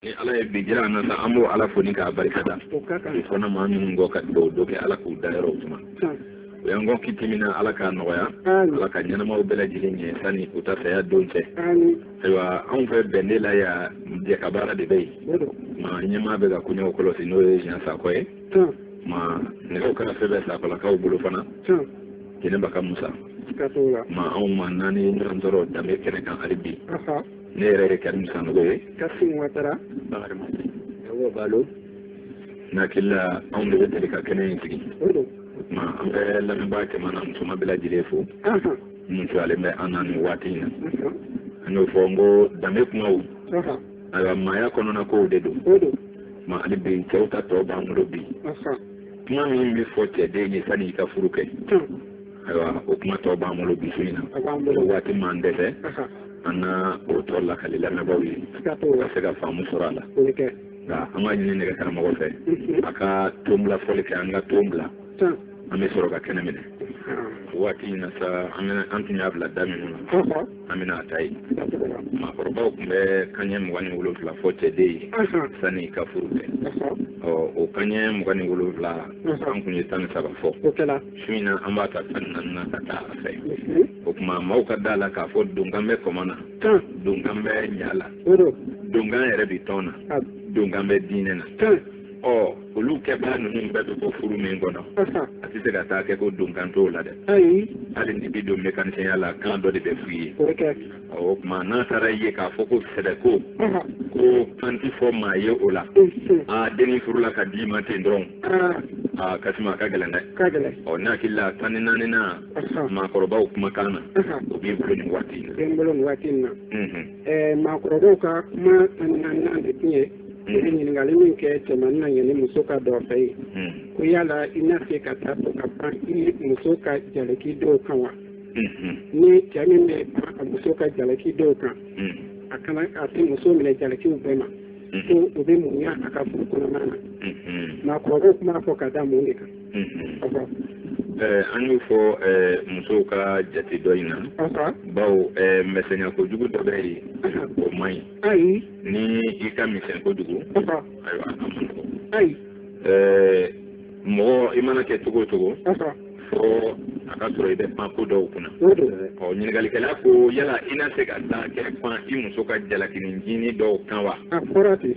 ni ala ye bi jira an na sa an b'o ala fo ni k'a barika da i fana maa minnu kɔ ka dɔ kɛ ala k'u dayɔrɔ suma u y'an kɔn kiti min na ala k'a nɔgɔya ala ka ɲɛnamaw bɛɛ lajɛlen ɲɛ sani u ta saya don cɛ ayiwa anw fɛ bɛnde la yan jɛkabaara de bɛ yen ma ɲɛmaa bɛ ka koɲɛw kɔlɔsi n'o ye jan sako ye ma nɛgɛw kana fɛn bɛ sakolakaw bolo fana jɛnɛba ka musa ma anw maa naani ɲɔgɔn sɔrɔ danbe kɛnɛ kan hali bi ne yɛrɛ ye karimu sanogo ye kasimu watara bakari ma awɔ balo n hakili la anw de bɛ deli ka kɛnɛ in sigi o tuma an bɛ lamɛnbaa cɛman n'a musoman bɛɛ lajɛlen fo minnu sɔrɔlen bɛ an na nin waati in na an y'o fɔ n ko danbe kumaw ayiwa maaya kɔnɔna kow de don ma hali bi cɛw ta tɔ b'an bolo bi kuma min bɛ fɔ cɛden ye sanni i ka furu kɛ ayiwa o kuma tɔ b'an bolo bi su in na ni waati m'an dɛsɛ an na o tɔ lakali lamɛnbaaw ye ka se ka faamu sɔrɔ a la nka an b'a ɲini nɛgɛ karamɔgɔ fɛ a ka ton bila fɔli kɛ an ka ton bila an bɛ sɔrɔ ka kɛnɛ minɛ waati in na sa an tun y'a bila da minnu na an bɛna a ta yen maakɔrɔbaw tun bɛ kanɲɛ mugan ni wolonfila fɔ cɛden ye sanni i ka furu kɛ ɔ o kanɲɛ mugan ni wolonfila an tun ye tan ni saba fɔ su in na an b'a ta tan naani na ka taa a fɛ o tuma maaw ka da la k'a fɔ donkan bɛ kɔmɔ na donkan bɛ ɲa la donkan yɛrɛ bɛ tɔn na donkan bɛ diinɛ na ɔ olu kɛbaga ninnu bɛɛ bɛ bɔ furu min kɔnɔ a tɛ se ka taa kɛ ko donkan t'o la dɛ hali ni bi don mekanisiyɛnya la kan dɔ de bɛ f'i ye o tuma n'a taara ye k'a fɔ ko sɛbɛko ko kan tɛ fɔ maa ye o la a denni furula ka d'i ma ten dɔrɔn a kasi ma ka gɛlɛn dɛ ɔ n hakili la tan ni naaninan maakɔrɔbaw kumakan na o b'i bolo nin waati in na bɛ n bolo nin waati in na ɛɛ maakɔrɔbaw ka kuma tan ni naaninan de tun ye ɲininkali min kɛ cɛmannin na yanni muso ka don i fɛ yen ko yala i na se ka taa to ka pan i muso ka jalaki dɔw kan wa ni cɛ min bɛ pan a muso ka jalaki dɔw kan a kana a tɛ muso minɛ jalakiw bɛɛ ma ko o bɛ mun ɲa a ka furu kɔnɔna na maakɔrɔbaw tun b'a fɔ ka da mun de kan an y'o fɔ musow ka jate dɔ in na bawo misɛnya kojugu dɔ bɛ yen o man ɲi ni i ka misɛn kojugu ayiwa a man nɔgɔn ayi mɔgɔ i mana kɛ cogo o cogo fɔ a ka sɔrɔ i bɛ pan ko dɔw kunna ɔ ɲininkalikɛla ko yala i na se ka to ka pan i muso ka jalakini jini dɔw kan wa a fɔra ten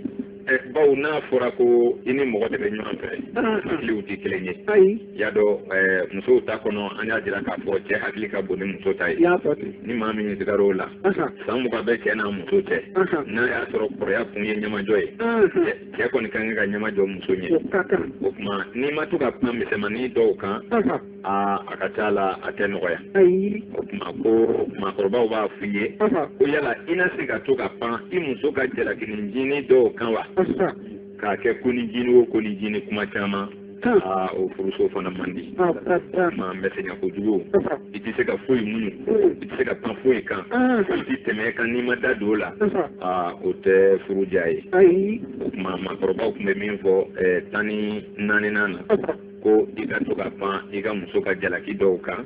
bawo n'a fɔra ko i ni mɔgɔ de bɛ ɲɔgɔn fɛ hakiliw tɛ kelen ye y'a dɔn musow ta kɔnɔ an y'a jira k'a fɔ cɛ hakili ka bon ni muso ta ye ni maa min sigara o la san mugan bɛ cɛ n'a muso cɛ n'a y'a sɔrɔ kɔrɔya kun ye ɲɛmajɔ ye cɛ kɔni ka kan ka ɲɛmajɔ muso ɲɛ o tuma n'i ma to ka pan kuma misɛnmanin dɔw kan aa a ka ca la a tɛ nɔgɔya o tuma ko maakɔrɔbaw b'a f'i ye ko yala i na se ka to ka pan i muso ka jalakini jini dɔw kan wa k'a kɛ ko ni jini o ko ni jini kuma caman aa o furuso fana man di maa bɛ sɛgɛn kojugu i tɛ se ka foyi muɲu i tɛ se ka pan foyi kan i tɛ tɛmɛ kan n'i ma da don o la aa o tɛ furu diya ye o tuma maakɔrɔbaw tun bɛ min fɔ tan ni naaninan na ko i ka to ka pan i ka muso ka jalaki dɔw kan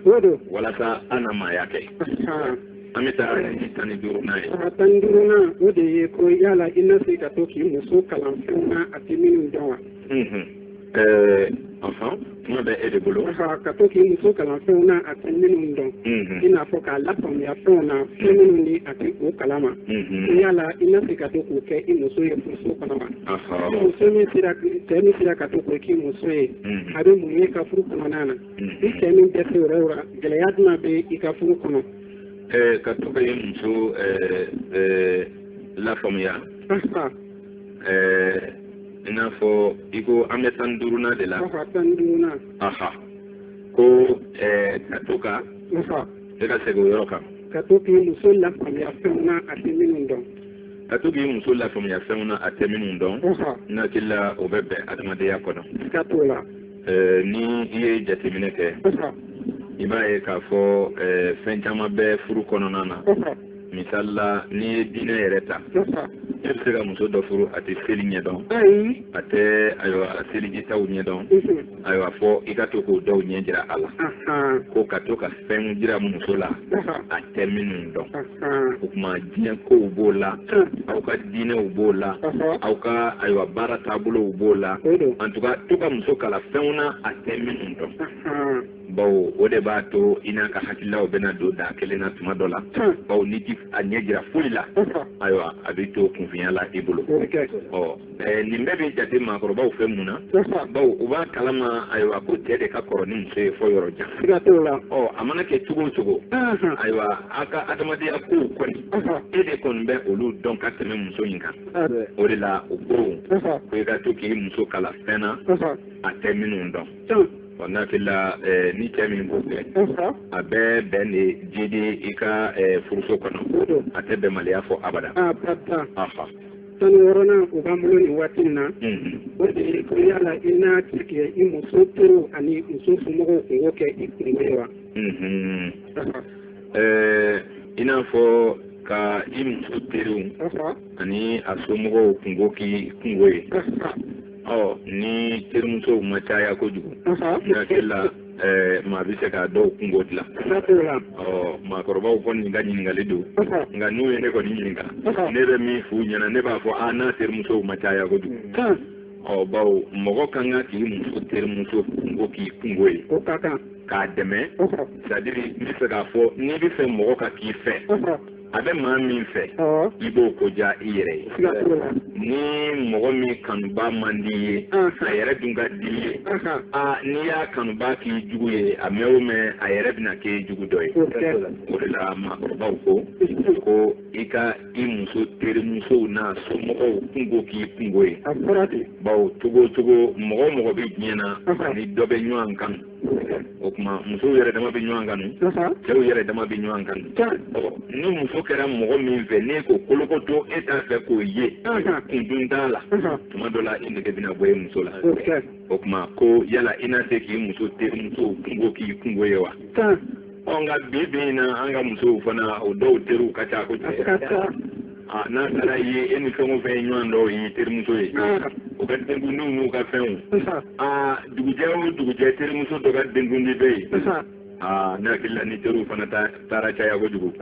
walasa an na maaya kɛ an bɛ taa tan ni duurunan ye tan ni duurunan o de ye ko yala i na se ka to k'i muso kalan fɛnw na a tɛ minnu dɔn wa kuma bɛ e de bolo ka to k'i muso kalan fɛnw na a tɛ minnu dɔn i n'a fɔ k'a lafaamuya fɛnw na fɛn minnu ni a tɛ o kalama yala i na se ka to k'o kɛ i muso ye furuso kɔnɔ wa muso min cɛ min sera ka to k'o k'i muso ye a bɛ mun ye i ka furu kɔnɔna na ni cɛ min dɛsɛ yɔrɔ o yɔrɔ gɛlɛya jumɛn bɛ i ka furu kɔnɔ ka to ka i muso lafaamuya ɛɛ i n'a fɔ i ko an bɛ tan duurunan de la. tan duurunan. aha ko ɛɛ ka to ka. e ka segin o yɔrɔ kan. ka to k'i muso lafaamuya fɛnw na a tɛ minnu dɔn. ka to k'i muso lafaamuya fɛnw na a tɛ minnu dɔn. n hakili la o bɛ bɛn adamadenya kɔnɔ. i ka t'o la. ɛɛ ni i ye jateminɛ kɛ. i b'a ye k'a fɔ ɛɛ fɛn caman bɛ furu kɔnɔna na. misali la n'i ye diinɛ yɛrɛ ta e bɛ se ka muso dɔ furu a tɛ seli ɲɛdɔn a tɛ ayiwa selijitaw ɲɛdɔn ayiwa fɔ i ka to k'o dɔw ɲɛ jira a la ko ka to ka fɛnw jira muso la a tɛ minnu dɔn o tuma diɲɛ kow b'o la aw ka diinɛw b'o la aw ka ayiwa baara taabolow b'o la en tout cas to ka muso kalan fɛnw na a tɛ minnu dɔn bawo o de b'a to i n'a ka hakililaw bɛna don da kelen na tuma dɔ la hmm. bawo n'i ti a ɲɛ jira foyi la ayiwa a bɛ to kunfinya la i bolo ɔ eh, nin bɛɛ bɛ jate maakɔrɔbaw fɛ mun na bawo u b'a kalama ayiwa ko cɛ de ka kɔrɔ ni muso ye fɔ yɔrɔ jan ɔ a mana kɛ cogo o cogo hmm. ayiwa a ka adamadenya kow kɔni e de kɔni bɛ olu dɔn ka tɛmɛ muso in kan o de la u ko ko i ka to k'i muso kalan fɛn na a tɛ minnu dɔn ɔ n hakili la ɛɛ ni cɛ min b'o kɛ a bɛ bɛn de jidi i ka ɛɛ furuso kɔnɔ a tɛ bɛnbaliya fɔ abada. tan ni wɔɔrɔnan o b'an bolo nin waati in na o de ye ko yala i na se ka i muso teriw ani muso somɔgɔw kungo kɛ i kungo ye wa. ɛɛ i n'a fɔ ka i muso teriw ani a somɔgɔw kungo k'i kungo ye. ɔ ni terimusow ma caya kojugu n hakili la Eh, maa bɛ se ka dɔw kungo dilan ɔ maakɔrɔbaw kɔni nin ka ɲininkali don nka n'u ye ne kɔni ɲininka ne bɛ min f'u ɲɛna ne b'a fɔ a n'a terimusow ma caya kojugu ɔ bawo mɔgɔ ka kan k'i muso terimuso kungo k'i kungo ye k'a dɛmɛ c'est-à-dire n bɛ fɛ k'a fɔ n'i bɛ fɛ mɔgɔ ka k'i fɛ a bɛ maa min fɛ i b'o ko diya i yɛrɛ ye ni mɔgɔ min kanuba man d'i ye a yɛrɛ dun ka d'i ye aa n'i y'a kanuba k'i jugu ye a mɛn o mɛn a yɛrɛ bɛna k'i jugu dɔ ye o de la maakɔrɔbaw ko ko i ka i muso terimusow n'a somɔgɔw kungo k'i kungo ye bawo cogo o cogo mɔgɔ o mɔgɔ bɛ diɲɛ na a ni dɔ bɛ ɲɔgɔn kanu o tuma musow yɛrɛ dama bɛ ɲɔgɔn kanu cɛw yɛrɛ dama bɛ ɲɔgɔn kanu ni muso kɛra mɔgɔ min fɛ n'e ko kolokoto e t'a fɛ k'o ye kun dun t'a la tuma dɔ la i nege bɛna bɔ e muso la o tuma ko yala i na se k'i muso terimuso kungo k'i kungo ye wa ɔ nka bi bi in na an ka musow fana o dɔw teriw ka ca kojugu ah, n'a taara ye e ni fɛn o fɛn ye ɲɔgɔn dɔn o y'i terimuso ye o ka denkundiw n'u ka fɛnw ah, dugujɛ o dugujɛ terimuso dɔ ka denkundi bɛ yen aa ne hakili la ni teriw fana taara caya kojugu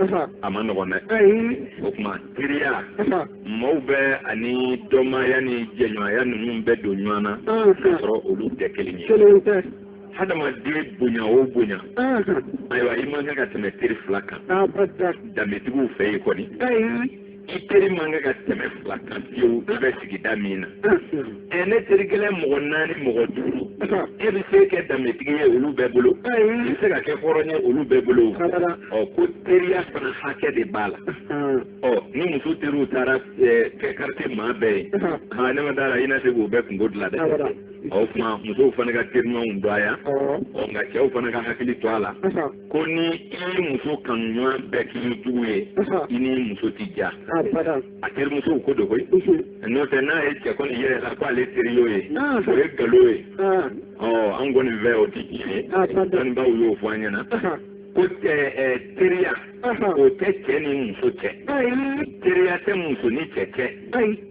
a man nɔgɔn dɛ o tuma teriya maaw bɛ ani dɔnmaya ni jɛɲɔgɔnya ninnu bɛ don ɲɔgɔn na k'a sɔrɔ olu tɛ kelen ye hadamaden bonya o bonya ayiwa i man kan ka tɛmɛ teri fila kan danbetigiw fɛ yen kɔni i teri man kan ka tɛmɛ fila kan fiyewu i bɛ sigida min na ɛ n'e teri gɛlɛn mɔgɔ naani mɔgɔ duuru e bɛ se kɛ danbetigi ye olu bɛɛ bolo i bɛ se ka kɛ hɔrɔn ye olu bɛɛ bolo ɔ ko teriya fana hakɛ de b'a la ɔ ni muso teriw taara kɛ quartier maa bɛɛ ye ne ma d'a la i na se k'o bɛɛ kungo dilan dɛ o tuma musow fana ka teriɲɔgɔnw dɔgɔya ɔ nka cɛw fana ka hakili to a la ko ni i ye muso kanuɲɔgɔn bɛɛ k'i jugu ye i ni muso tɛ ja a terimusow ko don koyi n'o tɛ n'a ye cɛ kɔni yira i la ko ale teri y'o ye o ye nkalon ye ɔ an kɔni fɛ o tɛ tiɲɛ ye dɔnnibaaw y'o fɔ an ɲɛna ko teriya o tɛ cɛ ni muso cɛ teriya tɛ muso ni cɛ cɛ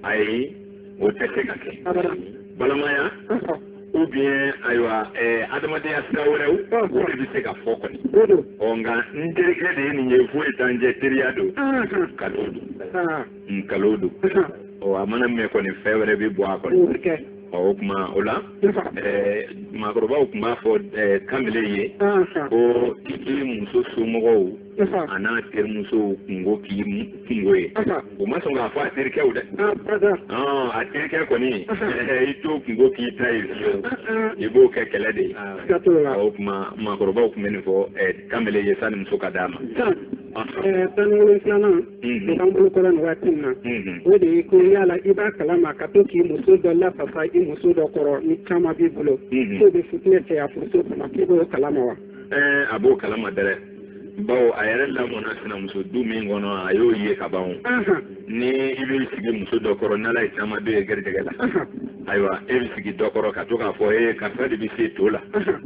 ayi o tɛ se ka kɛ balimaya ou bien ayiwa ɛɛ eh, adamadenya sira wɛrɛw o de bɛ se ka fɔ kɔni ɔ nka n terikɛ de ye nin ye foyi t'an cɛ teriya don nkalon don nkalon don ɔ a mana mɛn kɔni fɛn wɛrɛ bɛ bɔ a kɔnɔ ɔ o tuma o la ɛɛ eh, maakɔrɔbaw tun b'a fɔ ɛɛ eh, kamalen ye ko i k'i muso somɔgɔw a n'a terimusow kungo k'i kungo ye o ma sɔn k'a fɔ a terikɛw dɛ a terikɛ kɔni i t'o kungo k'i ta ye i b'o kɛ kɛlɛ de ye o tuma maakɔrɔbaw tun bɛ nin fɔ kamalen ye sanni muso ka d'a ma tan ni wolonfilanan o b'an bolo kɔrɔ nin waati in na o de ye ko yala i b'a kalama ka to k'i muso dɔ lafasa i muso dɔ kɔrɔ ni caman b'i bolo k'o bɛ fitinɛ caya furuso kɔnɔ k'i b'o kalama wa a b'o kalama dɛrɛ bawo a yɛrɛ lamɔna sinamuso du min kɔnɔ a y'o ye ka ban ni i bɛ sigi muso dɔ kɔrɔ n'ala ye caman bɛ ye garijɛgɛ la ayiwa e bɛ sigi dɔ kɔrɔ ka to k'a fɔ ee karisa de bɛ se to la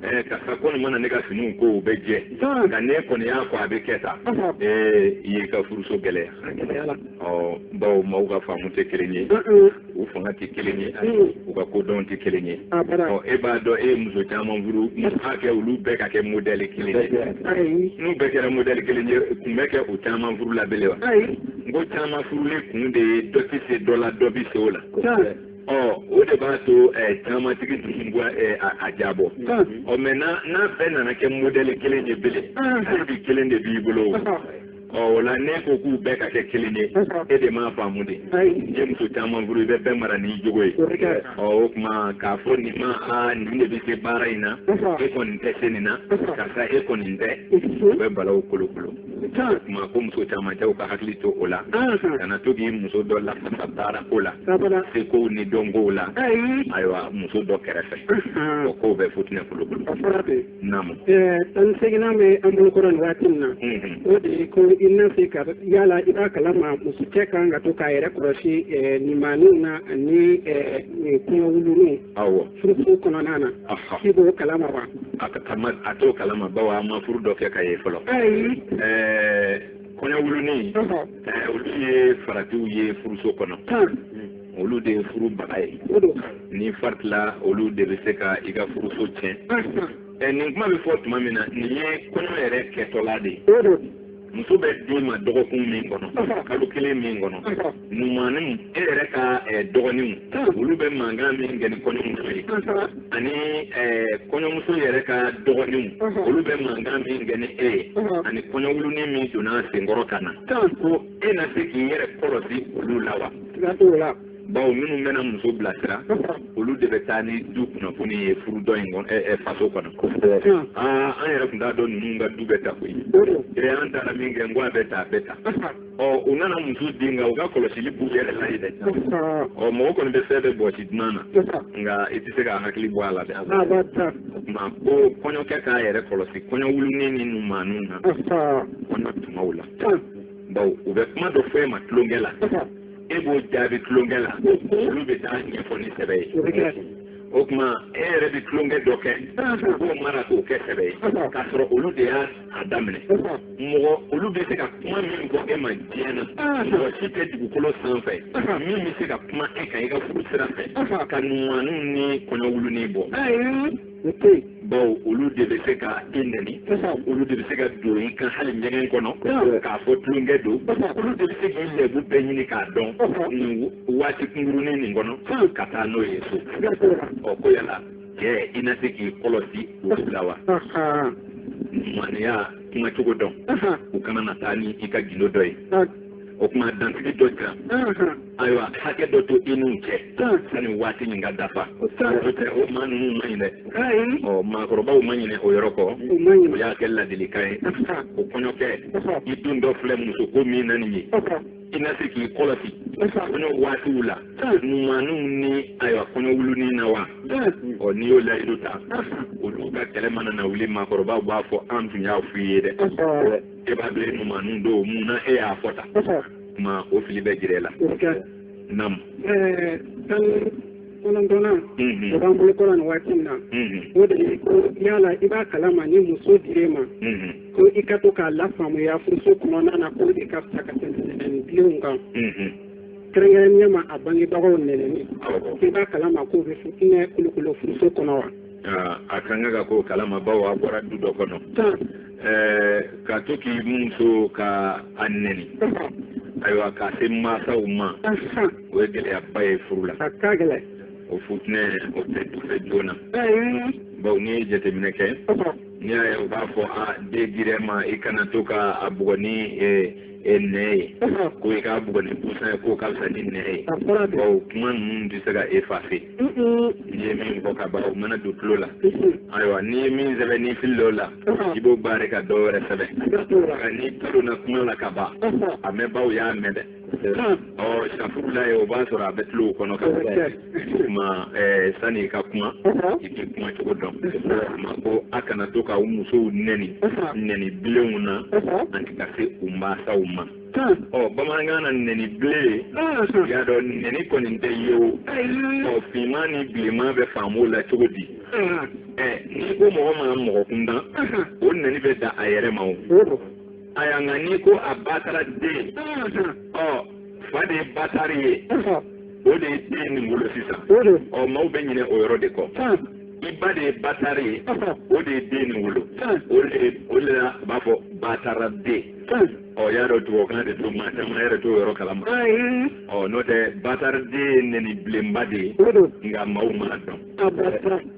ee karisa kɔni mana ne ka finiw ko u bɛ jɛ nka n'e kɔni y'a ko a bɛ kɛ tan ee i y'i ka furuso gɛlɛya a gɛlɛyala ɔ bawo maaw ka faamu tɛ kelen ye u fanga tɛ kelen ye u ka kodɔn tɛ kelen ye ɔ e b'a dɔn e ye muso caman furu k'a kɛ olu bɛɛ ka kɛ modɛli kelen ye n'u bɛɛ kɛra modɛli kelen ye kun bɛ kɛ u caman furu la bele wa n ko caman furulen kun de ye dɔ tɛ se dɔ la dɔ bɛ se o la ɔ o de b'a to ɛɛ camantigi dusu bɔ ɛɛ a jabɔ ɔ mais n'a n'a bɛɛ nana kɛ modɛli kelen ye bele hali bi kelen de b'i bolo o. ɔ o la n'e ko k'u bɛɛ ka kɛ kelen ye e de m'a faamu dɛ n'i ye muso caman furu i bɛ bɛɛ mara n'i jogo ye ɔ o tuma k'a fɔ nin ma aa nin de bɛ se baara in na e kɔni tɛ se nin na karisa e kɔni tɛ o bɛ balaw kolokolo o tuma ko muso caman cɛw ka hakili to o la kana to k'i muso dɔ lafasa baara ko la sekow ni dɔnkow la ayiwa muso dɔ kɛrɛfɛ o kow bɛ futinɛ kolokolo tan ni seginnan bɛ an bolo kɔrɔ nin waati in na o de ye ko i na se ka yala i b'a kalama muso cɛ kan ka to k'a yɛrɛ kɔlɔsi nimaaninw na ani kɔɲɔwuluninw furuso kɔnɔna na i b'o kalama wa a t'o kalama bawo a ma furu dɔ kɛ ka ye fɔlɔ ayi kɔɲɔwulunin olu ye faratiw ye furuso kɔnɔ olu de ye furu baga ye n'i faritila olu de bɛ se ka i ka furuso tiɲɛ ɛ nin kuma bɛ fɔ tuma min na nin ye kɔɲɔ yɛrɛ kɛtɔla de ye muso bɛ d'i ma dɔgɔkun min kɔnɔ kalo kelen min kɔnɔ numaninw e yɛrɛ ka dɔgɔninw olu bɛ mankan min kɛ ni kɔɲɔmuso ye ani kɔɲɔmuso yɛrɛ ka dɔgɔninw olu bɛ mankan min kɛ ni e ye ani kɔɲɔwulunin min donna a sen kɔrɔ ka na ko e na se k'i yɛrɛ kɔlɔsi olu la wa siga t'o la bawo minnu bɛna muso bilasira olu de bɛ taa ni du kunnafoni ye furu dɔ in kɔnɔ ɛɛ faso kɔnɔ aa an yɛrɛ tun t'a dɔn ninnu ka du bɛ tan koyi ee an taara min kɛ n ko a bɛ tan a bɛ tan ɔ u nana muso di nka u ka kɔlɔsili b'u yɛrɛ la yen dɛ ɔ mɔgɔ kɔni bɛ fɛn bɛɛ bɔsi dunan na nka i tɛ se k'a hakili bɔ a la dɛ o tuma ko kɔɲɔkɛ k'a yɛrɛ kɔlɔsi kɔɲɔwulunin ni numaninw na kɔɲɔ tumaw la bawo u bɛ kuma dɔ fɔ e ma tulonkɛ la e b'o jaabi tulonkɛ la olu bɛ taa a ɲɛfɔ ni sɛbɛ ye o tuma e yɛrɛ bɛ tulonkɛ dɔ kɛ u b'o mara k'o kɛ sɛbɛ ye k'a sɔrɔ olu de y'a a daminɛ mɔgɔ olu bɛ se ka kuma min fɔ e ma diɲɛ na mɔgɔ si tɛ dugukolo sanfɛ min bɛ se ka kuma e kan i ka furu sira fɛ ka numaninw ni kɔɲɔwulunin bɔ o tɛ yen. bawo olu de bɛ se ka e nɛni. olu de bɛ se ka don i kan hali ɲɛgɛn kɔnɔ. k'a fɔ tulonkɛ don. olu de bɛ se k'i lɛbu bɛɛ ɲini k'a dɔn. nin waati kunkurunin nin kɔnɔ. ka taa n'o ye so. ɔ ko yala cɛ i na se k'i kɔlɔsi olu la wa. maniya kuma cogo dɔn. u kana na taa ni i ka gindo dɔ ye. o tuma dansigi dɔ jira ayiwa hakɛ dɔ to i n'u cɛ sani waati nin ka dafa o tɛ o maa ninnu man ɲi dɛ ɔ maakɔrɔbaw ma ɲinɛ o yɔrɔ kɔ o y'a kɛ ladilikan ye o kɔɲɔkɛ i dontɔ filɛ musoko min na nin ye i na se k'i kɔlɔsi kɔɲɔ waatiw la numaninw ni ayiwa kɔɲɔwulunin na wa ɔ n'i y'o layidu ta olu ka kɛlɛ mana na wuli maakɔrɔbaw b'a fɔ an tun y'a f'i ye dɛ e b'a dɔn e numaninw don mun na e y'a fɔ tan kuma o fili bɛ jira e la nam tan kɔnɔntɔnnan o b'an bolo kɔrɔ nin waati min na o de ye ko yala i b'a kalama ni muso dir'e ma ko i ka to k'a lafaamuya furuso kɔnɔna na ko de ka fisa ka tɛmɛ nɛniliw kan kɛrɛnkɛrɛnnenya ma a bangebagaw nɛnini i b'a kalama k'o bɛ fitinɛ kolokolo furuso kɔnɔ wa a kan ka ka k'o kalama bawo a bɔra du dɔ kɔnɔ ka to k'i muso ka a nɛni ayiwa ka se mansaw ma o ye gɛlɛyaba ye furu la o futinɛ o tɛ dufɛ joona bawo n'i ye jateminɛ kɛ n'i y'a ye u b'a fɔ a den yɛrɛ ma i kana to ka a bugɔ ni nɛn ye ko i k'a bugɔ ni busan ye k'o ka fisa ni nɛn ye bawo kuma ninnu tɛ se ka effacer n'i ye min fɔ ka ban o mana don tulo la ayiwa n'i ye min sɛbɛn n'i fili o la i b'o barrer ka dɔ wɛrɛ sɛbɛn nka n'i tulonna kuma la ka ban a mɛnbaaw y'a mɛn dɛ ɔ safurulayi o b'a sɔrɔ a bɛ tulow kɔnɔ ka kuma sani ka kuma i bɛ kuma cogo dɔn ma ko a kana to ka u musow nɛni nɛni bilenw na ani ka se u mansaw ma ɔ bamanankan na nɛni bilen i y'a dɔn nɛni kɔni tɛ ye o ɔ finman ni bilenman bɛ faamu o la cogo di ɛ n'i ko mɔgɔ ma mɔgɔ kundan o nɛni bɛ da a yɛrɛ ma o a y'a nka n'i ko a bataraden ɔ fa de ye batari ye o de ye den nin wolo sisan ɔ maaw bɛ ɲinɛ o yɔrɔ de kɔ i ba de ye batari ye o de ye den nin wolo o de la a b'a fɔ bataraden ɔ y'a dɔn tubabukan de don maa caman yɛrɛ t'o yɔrɔ kalama ɔ n'o tɛ batariden ye nɛni bilenba de ye nka maaw m'a dɔn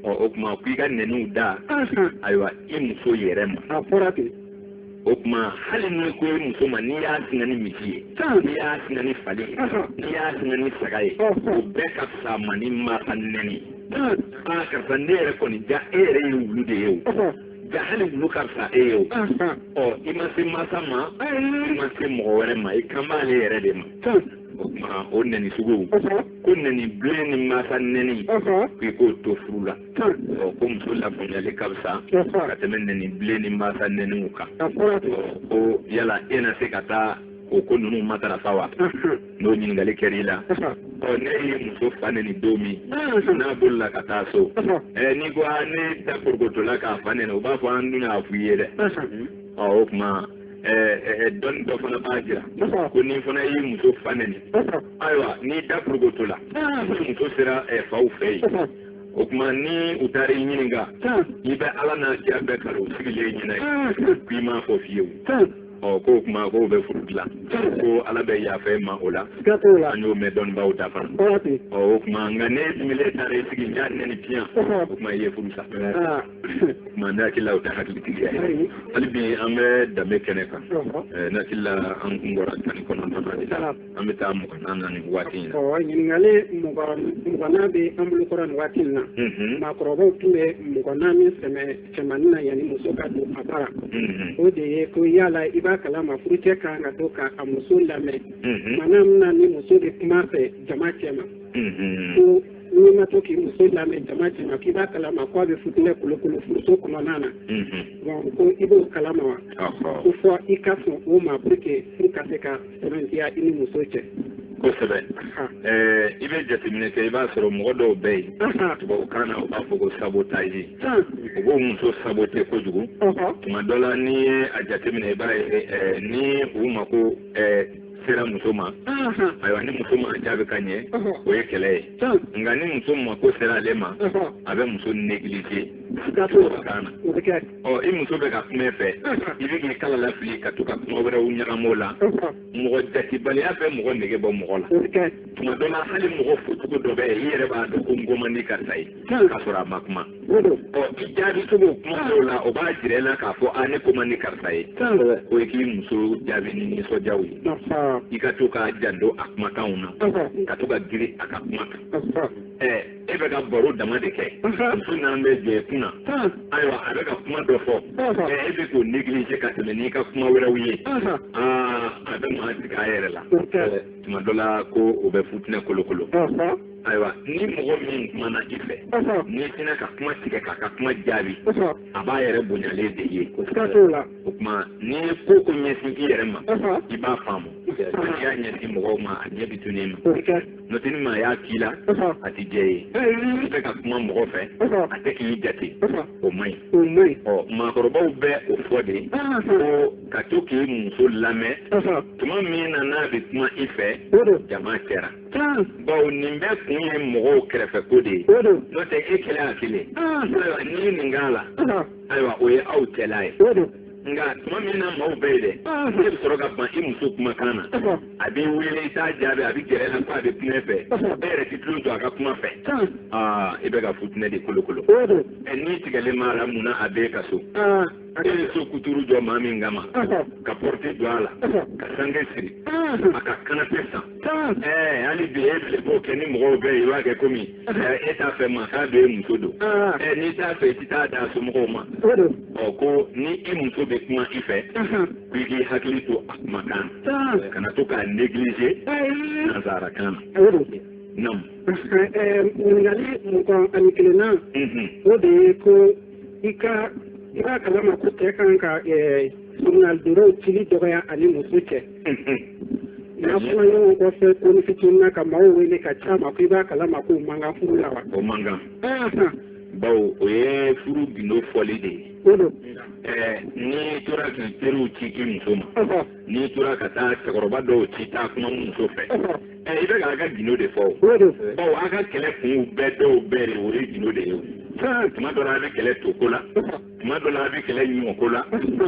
ɔ o tuma k'i ka nɛniw da ayiwa i muso yɛrɛ ma o tuma hali n'i ko i muso ma n'i y'a singa ni misi ye n'i y'a singa ni fali ye n'i y'a singa ni saga ye o bɛɛ ka fisa ma ni maa ka nɛni aa karisa ne yɛrɛ kɔni ja e yɛrɛ ye wulu de ye o ja hali wulu ka fisa e ye o ɔ i ma se mansa ma i ma se mɔgɔ wɛrɛ ma i kan b'ale yɛrɛ de ma o tuma o nɛni sugu ko nɛni bilen ni mansa nɛni k'i k'o to furu la ɔ ko muso lafaamuyali ka fisa ka tɛmɛ nɛni bilen ni mansa nɛniw kan ɔ ko yala e na se ka taa o ko ninnu matarafa wa n'o ɲininkali kɛra i la ɔ ne ye muso fa nɛni don min n'a bolila ka taa so ɛ n'i ko aa ne da porokotola k'a fa nɛni u b'a fɔ an dun y'a f'i ye dɛ ɔ o tuma dɔnni dɔ fana b'a jira ko n'i fana y'i muso fa nɛni ayiwa n'i da porokotola ni muso sera faw fɛ yen o tuma ni u taara i ɲininka i bɛ ala n'a kira bɛɛ kali u sigilen ɲɛna ye k'i m'a fɔ fiyewu ɔ k'o kuma k'o bɛ furu dilan ko ala bɛ yafa ma o la an y'o mɛn dɔnnibaaw da fana ɔ o kuma nka n'e dimilen taara i sigi n y'a nɛni piyan o kuma i ye furu sa ah. o kuma ne hakili la o tɛ hakilitigiya ye hali bi an bɛ danbe kɛnɛ kan ne hakili la an kun bɔra tan ni kɔnɔntɔnnan de la ah. an bɛ taa mugan na nin waati in na ɲininkali mugan bɛ an bolo kɔrɔ nin waati in na maakɔrɔbaw tun bɛ mugannan in sɛmɛ cɛmannin na yanni muso ka don a bara o de ye ko yala i b'a kalama furucɛ ka kan ka to ka a muso lamɛn tuma min na ni muso bɛ kuma fɛ jama cɛma ko n'i ma to k'i muso lamɛn jama cɛma k'i b'a kalama ko a bɛ futinɛ kolokolo furuso kɔnɔna na bon ko i b'o kalama wa ko fɔ i ka sɔn o ma pour que furu ka se ka sɛbɛntiya i ni muso cɛ. kosɛbɛ i bɛ jateminɛ kɛ i b'a sɔrɔ mɔgɔ dɔw bɛ yen tubabukan na u b'a fɔ ko sabotage u b'u muso sabote kojugu tuma dɔ la n'i ye a jateminɛ i b'a ye ni u mako sera muso ma ayiwa ni muso ma jaabi ka ɲɛ o ye kɛlɛ ye nka ni muso mako sera ale ma a bɛ muso neglige tubabukan na ɔ i muso bɛ ka kuma i fɛ i bɛ k'i kala lafili ka to ka kuma wɛrɛw ɲagami o la mɔgɔ jatibaliya bɛ mɔgɔ nege bɔ mɔgɔ la tuma dɔ la hali mɔgɔ focogo dɔ bɛ yen i yɛrɛ b'a dɔn ko n ko man di karisa ye k'a sɔrɔ a ma kuma jaabi cogo kuma dɔw la o b'a jira i la k'a fɔ a ne ko man di karisa ye o ye k'i muso jaabi ni nisɔndiyaw ye i ka to k'a janto a kumakanw na ka to ka girin a ka kuma kan e bɛ ka baro dama de kɛ muso nana bɛ jɔ e kunna ayiwa a bɛ ka kuma dɔ fɔ e bɛ k'o neglige ka tɛmɛ n'i ka kuma wɛrɛw ye aa a bɛ maa tigɛ a yɛrɛ la tuma dɔ la ko o bɛ futinɛ kolokolo ayiwa ni mɔgɔ min kumana i fɛ n'i sina ka kuma tigɛ k'a ka kuma jaabi a b'a yɛrɛ bonyalen de ye o tuma n'i ye ko ko ɲɛsin i yɛrɛ ma i b'a faamu n'i y'a ɲɛsin mɔgɔw ma a ɲɛ bi tunun i ma n'o tɛ ni maa y'a k'i la a ti diya i ye i bɛ ka kuma mɔgɔ fɛ a tɛ k'i jate o man ɲi ɔ maakɔrɔbaw bɛ o fɔ de ko ka to k'i muso lamɛn tuma min na n'a bɛ kuma i fɛ jama cɛra bawo nin bɛɛ kun ye mɔgɔw kɛrɛfɛ ko de ye n'o tɛ e kelen a kelen ayiwa n'i ye nin k'a la ayiwa o ye aw cɛla ye nka tuma min na maaw bɛ yen dɛ n'e bɛ sɔrɔ ka ban i muso kumakan na a b'i wele i t'a jaabi a bɛ gɛrɛ i la ko a bɛ kuma i fɛ e yɛrɛ t'i tulo jɔ a ka kuma fɛ aa i bɛ ka futinɛ de kolokolo n'i tigɛlen b'a la mun na a b'e ka so i ye so kuturu jɔ maa min kama ka pɔrɔti don a la ka sange siri a ka kanapɛ san ɛɛ hali bi e bɛlɛ b'o kɛ ni mɔgɔw bɛɛ ye i b'a kɛ komi e t'a fɛ maa k'a dɔn e muso don ɛɛ n'i t'a fɛ i ti taa d'a somɔgɔw ma ɔ ko ni i muso bɛ kuma i fɛ k'i k'i hakili to a kumakan na kana to k'a negliger nanzarakan na. Naam. Ɲininkali mugan ani kelenna o de ye ko i ka i b'a kalama ko cɛ kan ka soronadonnaw eh, cili dɔgɔya a ni muso cɛ n'a fɔra ɲɔgɔn kɔfɛ konin fitinin na ka maaw wele ka c'a ma ko i b'a kalama k'o man kan furu la wa o man kan bawo o ye furu gindo fɔli de ye o don eh, n'i tora k'i teriw ci i muso ma n'i tora ka taa cɛkɔrɔba dɔw ci taa kuma muso fɛ ɛ i bɛ k'a ka gindo de fɔ o bawo a ka kɛlɛ kunw bɛɛ dɔw bɛɛ de o ye gindo de ye o tuma dɔ la a bɛ kɛlɛ toko la tuma dɔ la a bɛ kɛlɛ ɲɔko la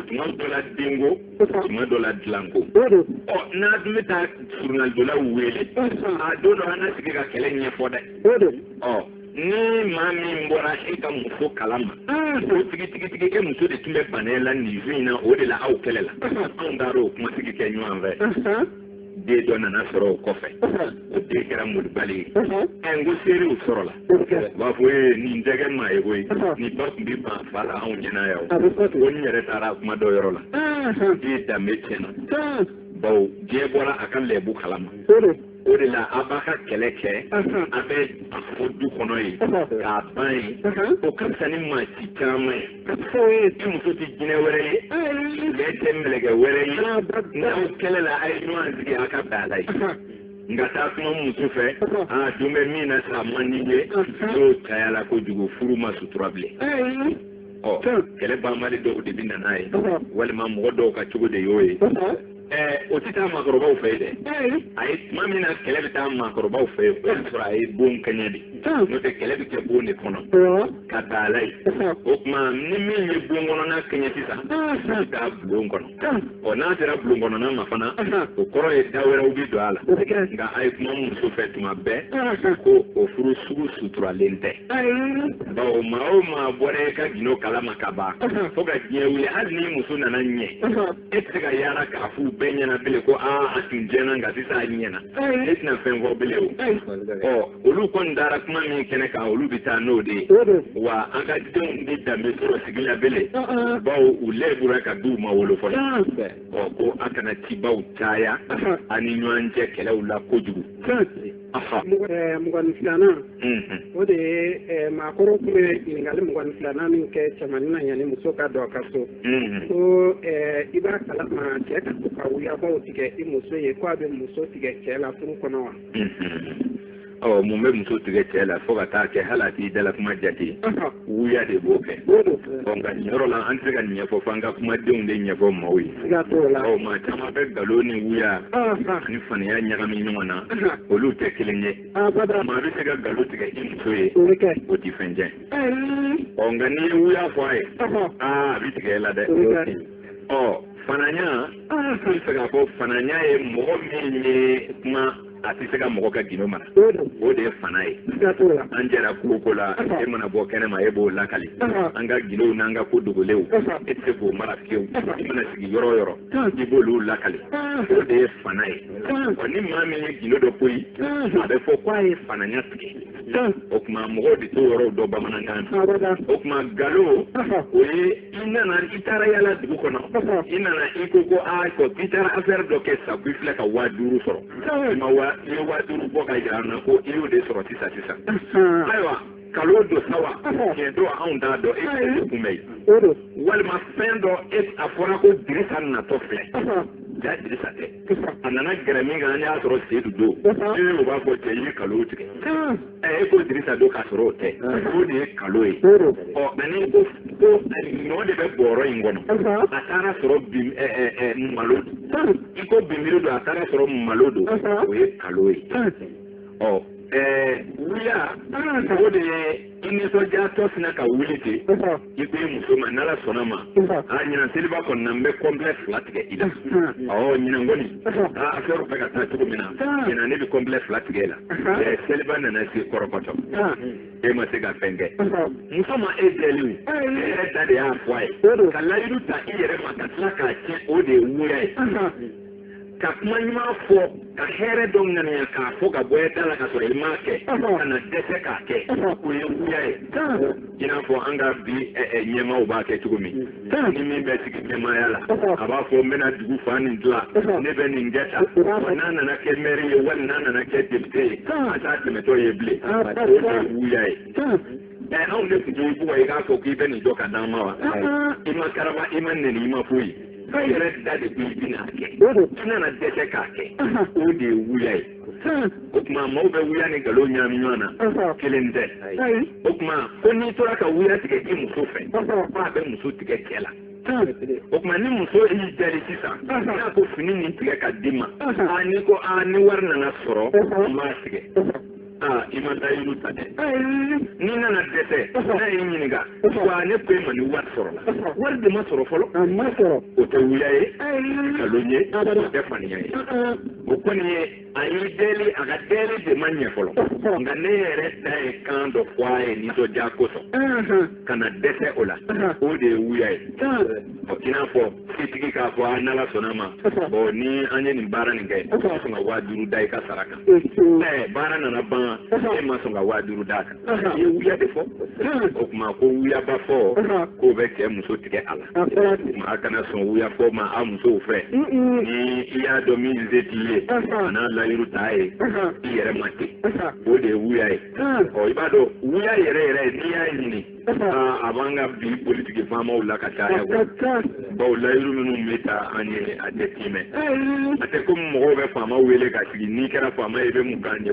tuma dɔ la denko tuma dɔ la dilanko ɔ n'a dun bɛ taa soronadonnaw wele a don dɔ an ka sigi ka kɛlɛ ɲɛfɔ dɛ ɔ ni maa min bɔra e ka muso kalama o tigi tigi tigi e muso de tun bɛ ban e la nin su in na o de la aw kɛlɛla anw taara o kuma sigi kɛ ɲɔgɔn fɛ den dɔ nana sɔrɔ o kɔfɛ o den kɛra malobali ye ɛ n ko seerew sɔrɔla u b'a fɔ ee nin tɛ kɛ maa ye koyi nin ba tun bɛ ban fa la anw ɲɛna yan o ko n yɛrɛ taara a kuma dɔ yɔrɔ la den danbe tiɲɛna bawo diɲɛ bɔra a ka lɛbu kalama o de la a b'a ka kɛlɛ kɛ a b'a fɔ du kɔnɔ yen k'a ban yen o ka fisa ni maa ci caman ye e muso tɛ jinɛ wɛrɛ ye bɛɛ tɛ mɛlɛkɛ wɛrɛ ye n'aw kɛlɛla a ye ɲɔgɔn sigi a ka bɛn a la ye nka taa kuma muso fɛ a don bɛɛ min na sa man di ye n'o cayala kojugu furu ma sutura bilen ɔ kɛlɛ banbali dɔw de bɛ na n'a ye walima mɔgɔ dɔw ka cogo de y'o ye o tɛ taa maakɔrɔbaw fɛ yen dɛ a ye tuma min na kɛlɛ bɛ taa maakɔrɔbaw fɛ yen o y'a sɔrɔ a ye bon kɛɲɛ de n'o tɛ kɛlɛ bɛ kɛ bon de kɔnɔ ka taa ala ye o tuma ni min ye bon kɔnɔna kɛɲɛ sisan a bɛ taa bulon kɔnɔ ɔ n'a sera bulon kɔnɔna ma fana o kɔrɔ ye da wɛrɛw bɛ don a la nka a ye kuma muso fɛ tuma bɛɛ ko o furu sugu suturalen tɛ bawo maa o maa bɔra e ka gindo kalama ka ban fo ka diɲɛ wuli hali ni muso nana ɲɛ e tɛ se ka yaala k'a f'u bɛɛ ɲɛna bilen ko aa a tun tiɲɛna nka sisan a ɲɛna e tɛna fɛn fɔ bilen o ɔ olu kɔni dara kuma min kɛnɛ kan olu bɛ taa n'o de ye wa an ka denw tɛ danbe sɔrɔ sigi la bilen bawo u lɛbura k'a t'u ma wolo fɔlɔ ɔ ko a kana cibaw caya a ni ɲɔgɔn cɛ kɛlɛw la kojugu mugan ni filanan o de ye maakɔrɔ tun bɛ ɲininkakali mugan filanan min kɛ cɛmannin na yanni muso ka don a ka so ko i b'a kala ma cɛ ka to ka wuyabaw tigɛ i muso ye ko a bɛ muso tigɛ cɛ la furu kɔnɔ wa ɔ mun bɛ muso tigɛ cɛ la fo ka taa kɛ hali a t'i dala kuma jate wuya de b'o kɛ ɔ nka nin yɔrɔ la an tɛ se ka nin ɲɛfɔ f'an ka kumadenw de ɲɛfɔ maaw ye ɔ maa caman bɛ nkalon ni wuya ani fananya ɲagami ɲɔgɔn na olu tɛ kelen ye maa bɛ se ka nkalon tigɛ i muso ye o tɛ fɛn tiɲɛ ɔ nka n'i ye wuya fɔ a ye aa a bɛ tigɛ e la dɛ ɔ fananya n bɛ fɛ k'a fɔ fananya ye mɔgɔ min ye kuma a tɛ se ka mɔgɔ ka gindo mara o de ye fana ye an jɛra ko o ko la e mana bɔ kɛnɛ ma e b'o lakali an ka gindow n'an ka ko dogolenw e tɛ se k'o mara fiyewu i mana sigi yɔrɔ o yɔrɔ i b'olu lakali o de ye fana ye ɔ ni maa min ye gindo dɔ poyi a bɛ fɔ k'a ye fananya tigɛ o tuma mɔgɔw de t'o yɔrɔw dɔn bamanankan na o tuma nkalon o ye i nana i taara yala dugu kɔnɔ i nana i ko ko a ko i taara affaire dɔ kɛ sa ko i filɛ ka waa duuru sɔrɔ i ma waa i ye waa duuru bɔ ka jira an na ko i y'o de sɔrɔ sisan sisan ayiwa nkalon don sa wa tiɲɛ don anw t'a dɔn e de tun bɛ yen walima fɛn dɔ e a fɔra ko dirisa natɔ filɛ jaa dirisa tɛ a nana gɛrɛ min kan an y'a sɔrɔ sedu don e o b'a fɔ cɛ i ye nkalon tigɛ e ko dirisa don k'a sɔrɔ o tɛ o de ye nkalon ye ɔ ani ko ko ɲɔ de bɛ bɔrɔ in kɔnɔ a taara sɔrɔ bi malo i ko bimiri don a taara sɔrɔ malo don o ye nkalon ye ɔ ɛɛ wuya o de ye i nisɔndiyatɔ sinna ka wuli ten i ko i muso ma n'ala sɔnna ma a ɲinan seliba kɔnɔna n bɛ kɔnpilɛ fila tigɛ i la ɔ ɲinan kɔni aa affaire bɛ ka taa cogo min na ɲinan ne bɛ kɔnpilɛ fila tigɛ la ɛ seliba nana se kɔrɔkɔtɔ e ma se ka fɛn kɛ muso ma e deli o e yɛrɛ da de y'a fɔ a ye ka layidu ta i yɛrɛ ma ka tila k'a tiɲɛ o de ye wuya ye ka kuma ɲuman fɔ ka hɛrɛ dɔ ŋaniya k'a fɔ ka bɔ i da la ka sɔrɔ i m'a kɛ ka na dɛsɛ k'a kɛ o ye wuya ye i n'a fɔ an ka bi ɲɛmaaw b'a kɛ cogo min ni min bɛ sigi ɲɛmaaya la a b'a fɔ n bɛna dugu fan in dilan ne bɛ nin kɛ tan n'a nana kɛ mɛri ye wali n'a nana kɛ depite ye a t'a tɛmɛtɔ ye bilen o ye wuya ye ɛɛ anw de tun y'i bugɔ i k'a fɔ k'i bɛ nin jɔ ka d'an ma wa i ma karaba i ma nɛni i ma foyi i yɛrɛ da de bɛ i bɛna kɛ i nana dɛsɛ k'a kɛ o de ye wuya ye o tuma maaw bɛ wuya ni nkalon ɲagami ɲɔgɔn na kelen tɛ o tuma ko n'i tora ka wuya tigɛ i muso fɛ k'a bɛ muso tigɛ cɛ la. o tuma ni muso y'i deli sisan n'a ko fini nin tigɛ ka di n ma n'i ko ni wari nana sɔrɔ n b'a tigɛ aa i ma layiru ta dɛ n'i nana dɛsɛ n'a y'i ɲininka wa ne ko e ma ni wari sɔrɔla wari de ma sɔrɔ fɔlɔ a ma sɔrɔ o tɛ wuya ye nkalon ye o tɛ faniya ye o kɔni ye a y'i deli a ka deli de ma ɲɛ fɔlɔ nka n'e yɛrɛ da ye kan dɔ fɔ a ye nisɔndiya kosɔn ka na dɛsɛ o la o de ye wuya ye i n'a fɔ tigi k'a fɔ an n'ala sɔnna a ma bon ni an ye nin baara nin kɛ ka sɔn ka waa duuru da i ka sara kan ɛɛ baara nana ban e ma sɔn ka waa duuru d'a kan i ye wuya de fɔ o tuma ko wuyaba fɔ k'o bɛ cɛ muso tigɛ a la o tuma a kana sɔn wuya fɔ ma a musow fɛ ni i y'a dɔn min se t'i ye kana layiru t'a ye i yɛrɛ ma ten o de ye wuya ye ɔ i b'a dɔn wuya yɛrɛ yɛrɛ n'i y'a ɲini a b'an ka bi politiki faamaw la ka caya bawo layiru minnu bɛ ta an ye a tɛ tiimɛ a tɛ komi mɔgɔw bɛ faama wele ka sigi n'i kɛra faama ye i bɛ mun k'an ye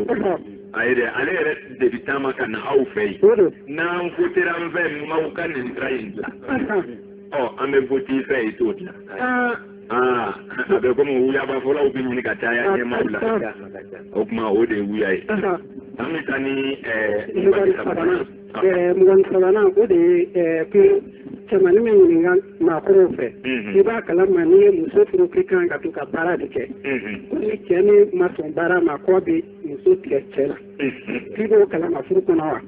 a yɛrɛ ale yɛrɛ de bɛ taama ka na aw fɛ yen n'aw wotera n fɛ n b'aw ka nin sira in dila ɔ an bɛ wote i fɛ i t'o dilan aa a bɛ komi wuyaba fɔlaw bɛ ɲini ka caya ɲɛmaaw la o tuma o de ye wuya ye an bɛ taa ni ɛɛ Ɛɛ mugan ni sabanan o de ye ko cɛmanin n b'i ɲininka maakɔrɔw fɛ i b'a kala ma n'i ye muso furu k'i kan ka to ka baara de kɛ ko ni cɛ nin ma sɔn baara ma k'o bɛ muso tigɛ cɛ la k'i b'o kala ma furu kɔnɔ wa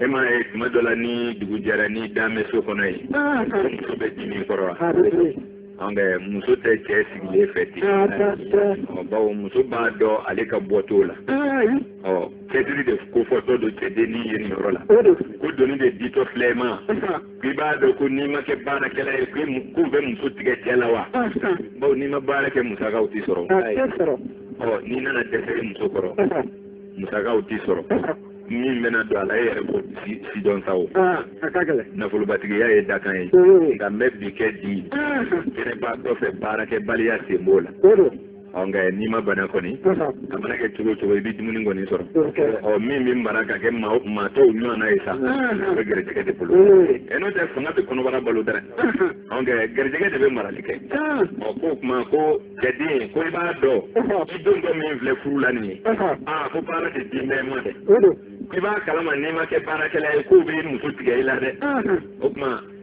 e ma ye tuma dɔ la ni dugu jɛra n'i dalen bɛ so kɔnɔ yen ah, ah. muso bɛ dimi i kɔrɔ wa ah, nka muso tɛ cɛ sigilen fɛ ten bawo muso b'a dɔn ale ka bɔ t'o la ɔ cɛsiri de kofɔtɔ don cɛdennin ye nin yɔrɔ la ko doni de ditɔ filɛ i ma k'i b'a dɔn ko n'i ma kɛ baarakɛla ye ko bɛ muso tigɛ cɛ la wa bawo n'i ma baara kɛ musakaw tɛ sɔrɔ ɔ n'i nana dɛsɛ i muso kɔrɔ musakaw tɛ sɔrɔ min bɛna don a la e yɛrɛ b'o sidɔn sa o nafolobatigiya ye dakan ye nka n bɛ bi kɛ di kɛnɛbaatɔ fɛ baarakɛbaliya sen b'o la ɔ nka n'i ma bana kɔni a mana kɛ cogo cogo i bɛ dumuni kɔni sɔrɔ ɔ min bɛ mara ka kɛ maa tɔw ɲɔgɔnna ye sa o bɛ garijɛgɛ de bolo ɛ n'o tɛ fanga bɛ kɔnɔbara balo dɛ ɔ nka garijɛgɛ de bɛ marali kɛ ɔ k'o tuma ko cɛden ko i b'a dɔn i dontɔ min filɛ furu la nin ye aa ko baara tɛ di bɛɛ ma dɛ i b'a kalama n'i ma kɛ baarakɛla ye k'o bɛ muso tigɛ i la dɛ o tuma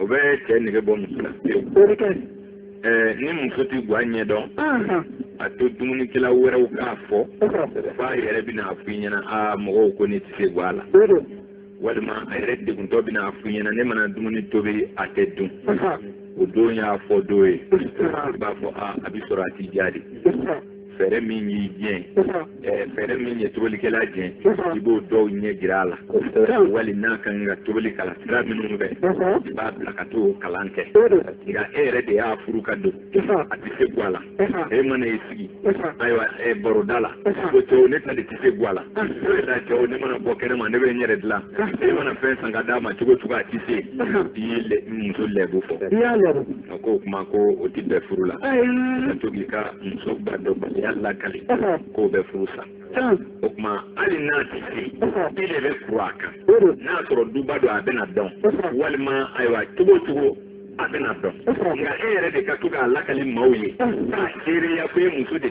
o bɛ cɛ nege bɔ muso la ni muso tɛ guwa ɲɛ dɔn a to dumunikɛla wɛrɛw k'a fɔ f'a yɛrɛ bɛna a f'i ɲɛna aa mɔgɔw ko ne tɛ se guwa la walima a yɛrɛ deguntɔ bɛna a f'i ɲɛna ne mana dumuni tobi a tɛ dun o don y'a fɔ don ye i b'a fɔ aa a bɛ sɔrɔ a tɛ diya dɛ fɛɛrɛ min y'i diɲɛ ɛɛ fɛɛrɛ min ye tobilikɛla diɲɛ i b'o dɔw ɲɛ jira a la wali n'a ka kan ka tobili kalan sira minnu fɛ i b'a bila ka t'o kalan kɛ nka e yɛrɛ de y'a furu ka don a tɛ se guwa la e mana i sigi ayiwa ɛ baroda la ko cɛw ne ta de tɛ se guwa la ne ta cɛw ne mana bɔ kɛnɛma ne bɛ n yɛrɛ dilan e mana fɛn san ka d'a ma cogo cogo a tɛ se i ye muso lɛbu fɔ. A ko o kuma ko o tɛ bɛn furu la ka to k'i ka muso guwa dɔnbaliya lakali k'o bɛ furu sa o kuma hali n'a tɛ se i de bɛ kuru a kan n'a sɔrɔ duba don a bɛna dɔn walima ayiwa cogo o cogo a bɛna dɔn nka e yɛrɛ de ka to k'a lakali maaw ye k'a seereya ko e muso de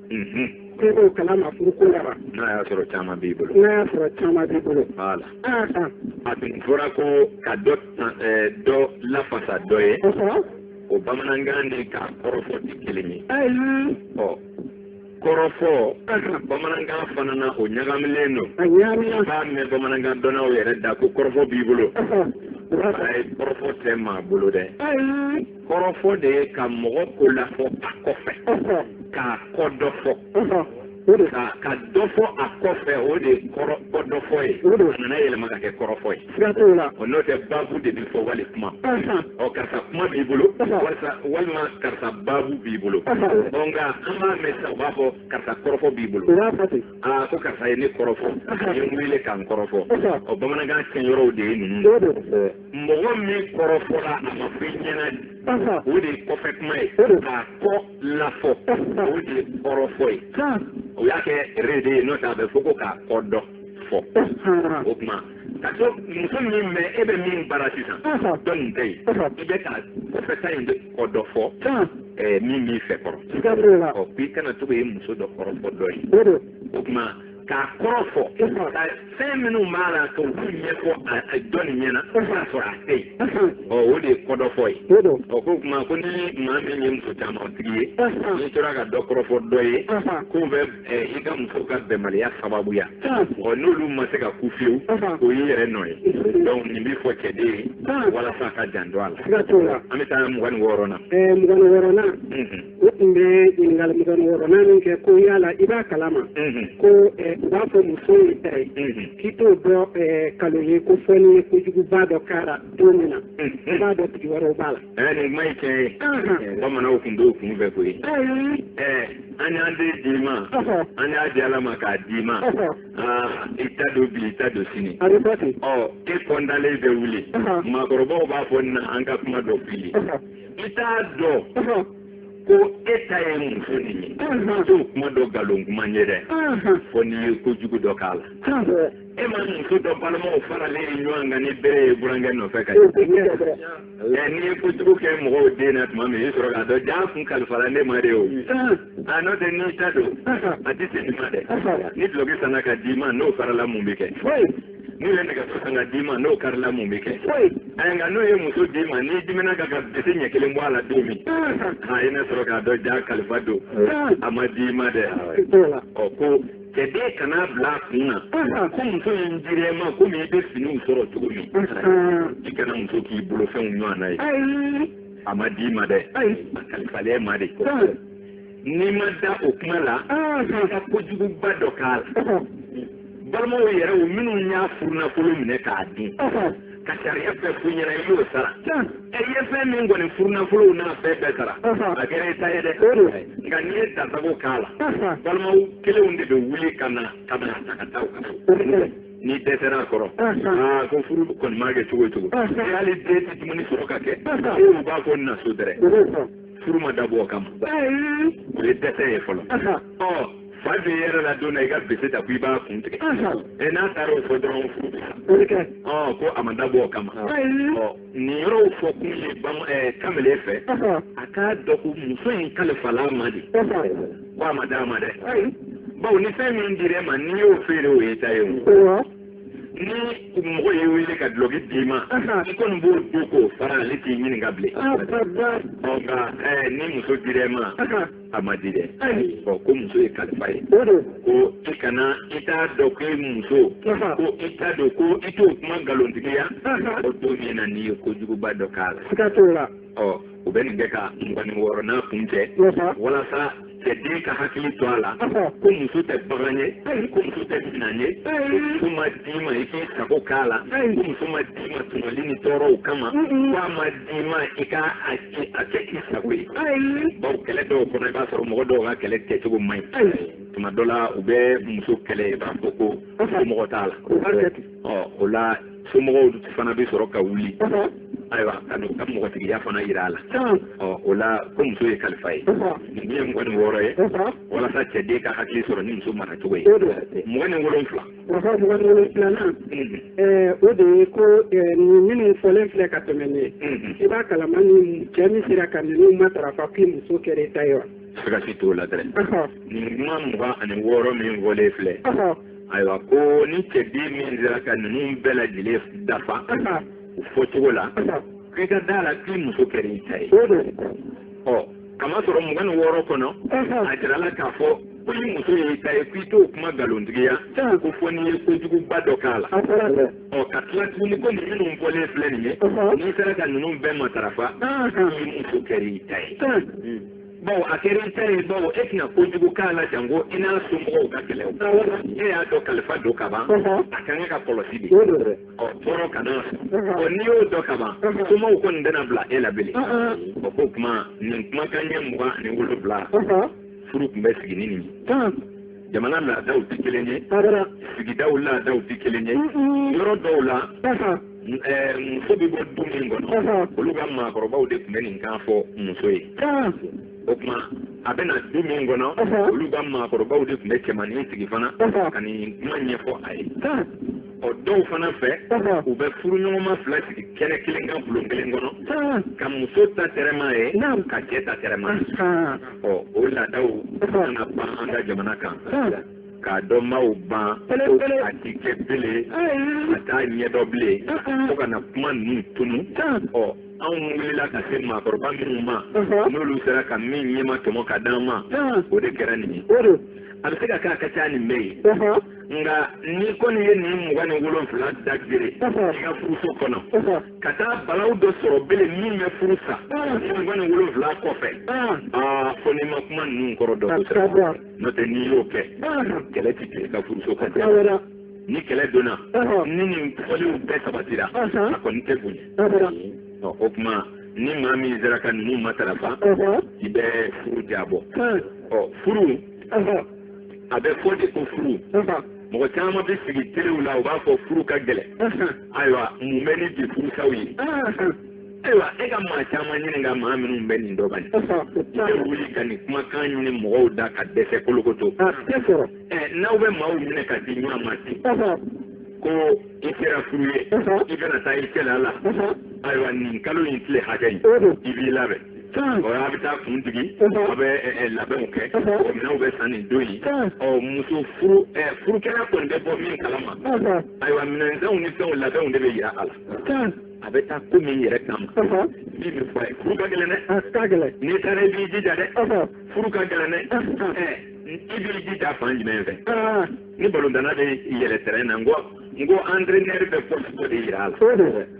k'e b'o kalama furu ko la wa. n'a y'a sɔrɔ caman b'i bolo. n'a y'a sɔrɔ caman b'i bolo. voilà. aa aa. a tun fɔra ko ka dɔ dɔ lafasa dɔ ye. kosɛbɛ. o bamanankan ni k'a kɔrɔfɔ tɛ kelen ye. ayi. ɔ kɔrɔfɔ bamanankan fana na o ɲagamilen don. a ɲagamilen. b'a mɛn bamanankan dɔnnaw yɛrɛ da ko kɔrɔfɔ b'i bolo. ayi kɔrɔfɔ tɛ maa bolo dɛ. ayi. kɔrɔfɔ de ye ka mɔgɔ ko lafɔ a kɔfɛ k'a kɔ dɔ fɔ ka ka dɔ fɔ a kɔfɛ o de ye kɔrɔ kɔ dɔ fɔ ye o de nana yɛlɛma ka kɛ kɔrɔfɔ ye siga t'o la o n'o tɛ baabu de bɛ fɔ wali kuma ɔ karisa kuma b'i bolo wali walima karisa baabu b'i bolo ɔ nka an b'a mɛn sisan u b'a fɔ karisa kɔrɔfɔ b'i bolo aa ko karisa ye ne kɔrɔfɔ a ye n wele k'an kɔrɔfɔ ɔ bamanankan tiɲɛyɔrɔw de ye ninnu mɔgɔ min kɔrɔfɔra a ma fɔ i ɲɛna dɛ o de ye kɔfɛ kuma ye k'a kɔ lafɔ o de ye kɔrɔfɔ ye o y'a kɛ re de ye n'o tɛ a bɛ fɔ ko k'a kɔ dɔ fɔ o tuma ka to muso min bɛ e bɛ min bara sisan dɔ nin tɛ yen i bɛ ka kɔfɛ ta in kɔ dɔ fɔ min b'i fɛ kɔrɔ ɔ k'i kana to ka ye muso dɔ kɔrɔfɔ dɔ ye o tuma k'a kɔrɔ fɔ ka fɛn minnu b'a la ka olu ɲɛfɔ a dɔ nin ɲɛna k'a sɔrɔ a tɛ yen ɔ o de ye kɔdɔfɔ ye ɔ ko kuma ko ni maa min ye muso caman tigi ye n'i tora ka dɔ kɔrɔfɔ dɔ ye k'o bɛ i ka muso ka bɛnbaliya sababuya ɔ n'olu ma se ka kun fewu o y'i yɛrɛ nɔ ye donc nin bɛ fɔ cɛden ye walasa a k'a janto a la an bɛ taa mugan ni wɔɔrɔ na mugan ni wɔɔrɔ na u tun bɛ ɲininkali mugan ni wɔɔrɔnan min kɛ ko yala i b'a kalama ko u b'a fɔ muso y'i ta ye k'i t'o dɔn nkalon ye ko fɔ n'i ye kojuguba dɔ k'a la don min na i b'a dɔn tigi wɛrɛw b'a la. ɛɛ nin kuma ye tiɲɛ ye bamananw tun b'o kun fɛ koyi ɛɛ an y'an den d'i ma an y'a di ala ma k'a d'i ma aa i ta don bi i ta don sini a bɛ bɔ ten ɔ e kɔntalen bɛ wuli maakɔrɔbaw b'a fɔ na an ka kuma dɔ f'i ye. i t'a dɔn ko e ta ye muso nin ye i t'o kuma dɔn nkalon kuma ye dɛ fɔ n'i ye kojugu dɔ k'a la e ma muso dɔ balimaw faralen ye ɲɔgɔn kan ni bere ye burankɛ nɔfɛ ka ɛ n'i ye kojugu kɛ mɔgɔw den na tuma min i sɔrɔ k'a dɔn jaa a kun kalifala ne ma de o a n'o tɛ n'i ta don a tɛ se nin ma dɛ ni duloki sanna ka d'i ma n'o farala mun bɛ kɛ n'u ye nɛgɛso san ka d'i ma n'o karila mun bɛ kɛ ayi nka n'u ye muso d'i ma n'i dimina ka ka bese ɲɛ kelen bɔ a la don min i na sɔrɔ k'a dɔn jaa kalifa don a ma d'i ma dɛ ɔ ko cɛden kan'a bila a kun na ko muso in dir'e ma komi i bɛ finiw sɔrɔ cogo min i kana muso k'i bolofɛnw ɲɔgɔn na ye a ma d'i ma dɛ a kalifal'e ma de n'i ma da o kuma la i ka kojuguba dɔ k'a la balimaw yɛrɛ o minnu y'a furunafolo minɛ k'a dun ka sariya bɛɛ f'u ɲɛna i y'o sara ɛ i ye fɛn min kɔni furunafolow n'a fɛn bɛɛ sara a kɛra i ta ye dɛ nka n'i ye dansago k'a la balimaw kelenw de bɛ wuli ka na ka n'a ta ka taa u ko n'i dɛsɛra a kɔrɔ aa ko furu kɔni maa kɛ cogo o cogo hali den tɛ dumuni sɔrɔ k'a kɛ u b'a fɔ na so dɛrɛ furu ma dabɔ o kama o ye dɛsɛ ye fɔlɔ ɔ fa bɛ yɛrɛ la don na i ka bese ta ko i b'a kun tigɛ ɛ n'a taara o fɔ dɔrɔn furu bɛ sa ɔ ko a ma dabɔ o kama ɔ nin yɔrɔw fɔ kun ye bama ɛɛ kamalen fɛ a k'a dɔn ko muso in kalifala a ma de ko a ma d'a ma dɛ bawo ni fɛn min dir'e ma n'i y'o feere o y'i ta ye o. ni mɔgɔ y'i wele ka dulɔki d'i ma i kɔni b'o don k'o fara ale t'i ɲininka bilen nka ni muso dira i ma a ma di dɛ ɔ ko muso ye kalifa ye ko i kana i t'a dɔn ko i muso ko i t'a dɔn ko i t'o kuma nkalontigiya o don min na n'i ye kojuguba dɔ k'a la ɔ u bɛ nin kɛ ka mugan ni wɔɔrɔnan kuncɛ walasa cɛden ka hakili to a la ko muso tɛ bagan ye ko muso tɛ minan ye muso ma d'i ma i k'i sago k'a la ko muso ma d'i ma tɔɲɔli ni tɔɔrɔw kama ko a ma d'i ma i ka a kɛ i sago ye baw kɛlɛ dɔw kɔnɔ i b'a sɔrɔ mɔgɔ dɔw ka kɛlɛ kɛcogo man ɲi tuma dɔ la u bɛ muso kɛlɛ i b'a fɔ ko somɔgɔ t'a la ɔ o la somɔgɔw fana bɛ sɔrɔ ka wuli ayiwa ka n'u ka mɔgɔtigiya fana jira a la ɔ o la ko muso ye kalifa ye nin ye mugan ni wɔɔrɔ ye walasa cɛden ka hakili sɔrɔ ni muso mara cogo ye mugan ni wolonfila mugan ni wolonfilanan o de ye ko nin minnu fɔlen filɛ ka tɛmɛ ni i b'a kalama ni cɛ min sera ka ninnu matarafa k'i muso kɛra i ta ye wa siga si t'o la dɛ nin kuma mugan ani wɔɔrɔ min fɔlen filɛ ayiwa ko ni cɛden min sera ka ninnu bɛɛ lajɛlen dafa u fɔcogo la k'i ka d'a la k'i muso kɛra i ta ye ɔ kamasɔrɔ mugan ni wɔɔrɔ kɔnɔ a jirala k'a fɔ ko i muso ye i ta ye k'i t'o kuma nkalontigiya ko fo n'i ye kojuguba dɔ k'a la ɔ ka tila tuguni ko nin minnu fɔlen filɛ nin ye n'i sera ka ninnu bɛɛ matarafa k'i muso kɛra i ta ye baw a kɛra i ta ye baw e tɛna kojugu k'a la janko i n'a somɔgɔw ka kɛlɛ e y'a dɔn kalifa don ka ban a ka kan ka kɔlɔsi de ɔ tɔɔrɔ kana ɔ n'i y'o dɔn ka ban somɔgɔw kɔni tɛna bila e la bilen ɔ k'o kuma nin kumakan ɲɛ mugan ani wolonwula furu tun bɛ sigi ni nin ye jamana laadaw tɛ kelen ye sigidaw laadaw tɛ kelen ye yɔrɔ dɔw la muso bɛ bɔ du min kɔnɔ olu ka maakɔrɔbaw de tun bɛ nin kan fɔ muso ye o tuma a bɛ na du min kɔnɔ olu ka maakɔrɔbaw de tun bɛ cɛmannin sigi fana ka nin kuma ɲɛfɔ a ye ɔ dɔw fana fɛ u bɛ furuɲɔgɔnma fila sigi kɛnɛ kelen kan bulon kelen kɔnɔ ka muso ta tɛrɛm'a ye ka cɛ ta tɛrɛm'a ye ɔ o laadaw ka na ban an ka jamana kan k'a dɔnbaaw ban a ti kɛ bele a t'a ɲɛdɔn bilen fo ka na kuma ninnu tunu ɔ anw wulila ka se maakɔrɔba minnu ma n'olu sera ka min ɲɛma tɔmɔ ka d'an ma o de kɛra nin ye a bɛ se ka kɛ a ka ca nin bɛɛ ye nka n'i kɔni ye nin mugan ni wolonfila da gere i ka furuso kɔnɔ ka taa balaw dɔ sɔrɔ bele min bɛ furu sa mugan ni wolonfila kɔfɛ aa fo n'i ma kuma ninnu kɔrɔ dɔn kosɛbɛ n'o tɛ n'i y'o kɛ kɛlɛ ti kɛ i ka furuso kɔnɔ ni kɛlɛ donna ni nin fɔliw bɛɛ sabatira a kɔni tɛ bonya o tuma ni maa min sera ka ninnu matarafa i bɛ furu diyabɔ ɔ furu a bɛ fɔ de ko furu mɔgɔ caman bɛ sigi telew la u b'a fɔ furu ka gɛlɛn ayiwa mun bɛ ni bi furusaw ye ayiwa e ka maa caman ɲininka maa minnu bɛ nin dɔn bani e wuli ka nin kumakan ɲini mɔgɔw da ka dɛsɛ kolokoto ɛ n'aw bɛ maaw minɛ ka di ɲɔgɔn ma ten ko i sera furu ye i bɛna taa i cɛla la ayiwa nin kalo in tile hakɛ in i b'i labɛn a bɛ taa kun digi a bɛ labɛnw kɛ minɛnw bɛ san nin don in ɔ muso furu furukɛla kɔni bɛ bɔ min kalama ayiwa minɛnsanw ni fɛnw labɛnw de bɛ yira a la a bɛ taa ko min yɛrɛ kama min bɛ fɔ a ye furu ka gɛlɛn dɛ n'i taara i b'i jija dɛ furu ka gɛlɛn dɛ i b'i jija fan jumɛn fɛ ni balontanna bɛ yɛlɛ tɛrɛn na n ko n ko entraîneur bɛ poste dɔ de yira a la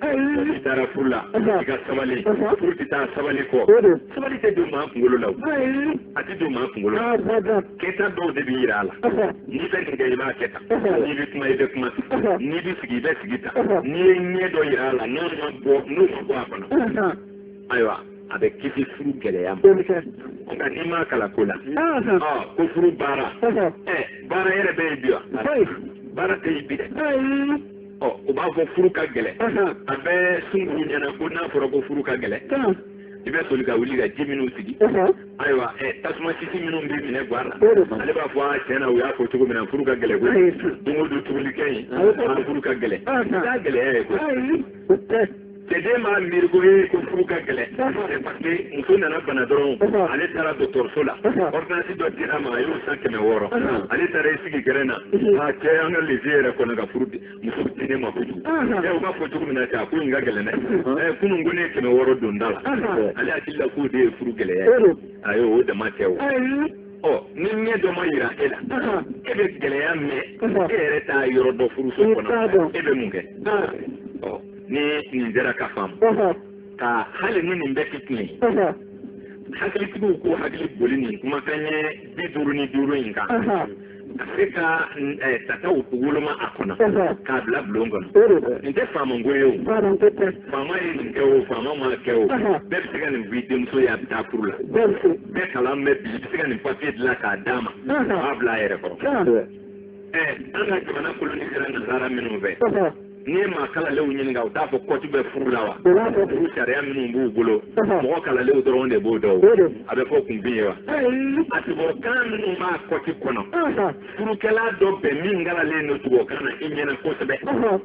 i taara furu la i ka sabali furu tɛ taa sabali kɔ sabali tɛ don maa kunkolo la a tɛ don maa kunkolo la kɛta dɔw de bɛ yira a la n'i bɛ nin kɛ i b'a kɛ tan n'i bɛ kuma i bɛ kuma tan n'i bɛ sigi i bɛ sigi tan n'i ye ɲɛ dɔ yira a la n'o ma bɔ n'o ma bɔ a kɔnɔ ayiwa a bɛ kisi furu gɛlɛya ma nka n'i m'a kalan ko la ko furu baara baara yɛrɛ bɛ yen bi wa baara tɛ yen bi dɛ ɔ o b'a fɔ furu ka gɛlɛn a bɛ sunguruw ɲɛna ko n'a fɔra ko furu ka gɛlɛn i bɛ soli ka wuli ka ji minnu sigi ayiwa tasuma sisi minnu bɛ minɛ gwa la ale b'a fɔ a tiɲɛ na u y'a fɔ cogo min na furu ka gɛlɛn ko don o don tobili kɛ yen furu ka gɛlɛn n y'a gɛlɛya ye ko Cɛden b'a miiri ko ee ko furu ka gɛlɛn c'est parce que muso nana bana dɔrɔn ale taara dɔgɔtɔrɔso la ordonnance dɔ dir'a ma a y'o san kɛmɛ wɔɔrɔ ale taara i sigi gɛrɛn na a cɛ an ka le vieux yɛrɛ kɔnna ka furumuso di ne ma kojugu ɛ u b'a fɔ cogo min na cɛ a ko nin ka gɛlɛn dɛ ɛ kunun ko ne ye kɛmɛ wɔɔrɔ don da la ale hakili la k'o de ye furu gɛlɛya ye ayi o dama tɛ o ɔ ni ɲɛ dɔ ma yira e la e bɛ gɛlɛya mɛn e yɛrɛ t'a yɔrɔ dɔn furuso kɔnɔ e bɛ mun kɛ ni nin jɛra ka faamu ka hali ni nin bɛɛ tɛ tiɲɛ ye hakilitigiw k'u hakili boli nin kumakan ye bi duuru ni duuru in kan ka se ka tataw woloma a kɔnɔ k'a bila bulon kɔnɔ nin tɛ faama ko ye o faama ye nin kɛ o faama ma kɛ o bɛɛ bɛ se ka nin f'i denmuso ye a bɛ taa furu la bɛɛ kalan bɛ bi i bɛ se ka nin papiye dilan k'a d'a ma a b'a bila a yɛrɛ kɔrɔ an ka jamana kolonisera nasara minnu fɛ n'i ye maa kalalenw ɲininka u t'a fɔ kɔti bɛ furu la wa furu sariya minnu b'u bolo mɔgɔ kalalenw dɔrɔn de b'o dɔn a bɛ fɔ kunfin ye wa a tubabukan minnu b'a kɔti kɔnɔ furukɛla dɔ bɛn min kalalen don tubabukan na i ɲɛna kosɛbɛ